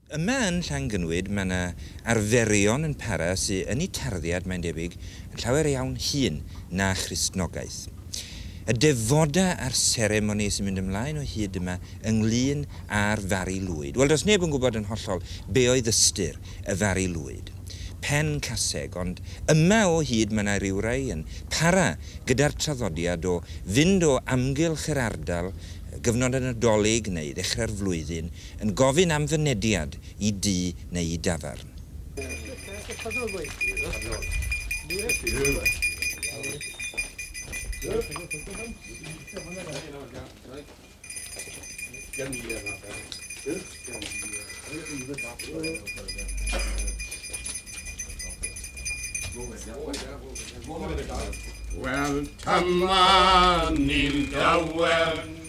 Yma yn Llangynwyd mae 'na arferion yn para sy yn eu tarddiad, mae'n debyg, yn llawer iawn hŷn na Christnogaeth. Y defodau a'r seremoni sy'n mynd ymlaen o hyd yma ynglŷn â'r Fari Lwyd. Wel, does neb yn gwybod yn hollol be oedd ystyr y Fari Lwyd. Pen caseg, ond yma o hyd mae 'na rywrai yn para gyda'r traddodiad o fynd o amgylch yr ardal gyfnod y Nadolig neu ddechrau'r flwyddyn yn gofyn am fynediad i dŷ neu i dafarn. Wel, dyma ni'n dawel.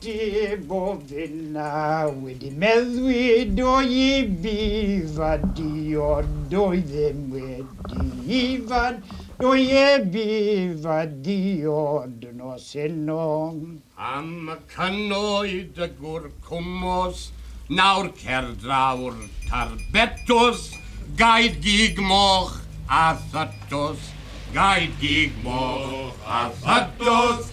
Dim ond hynna, wedi meddwi do i fi, fad di ond doi ddim wedi i fad doi e fi, fad di ond nos heno. Am y cynoed y gwr cwmws, nawr cer draw'r tar betws, gaed gig moch a thatws, gaed gig moch a thatws.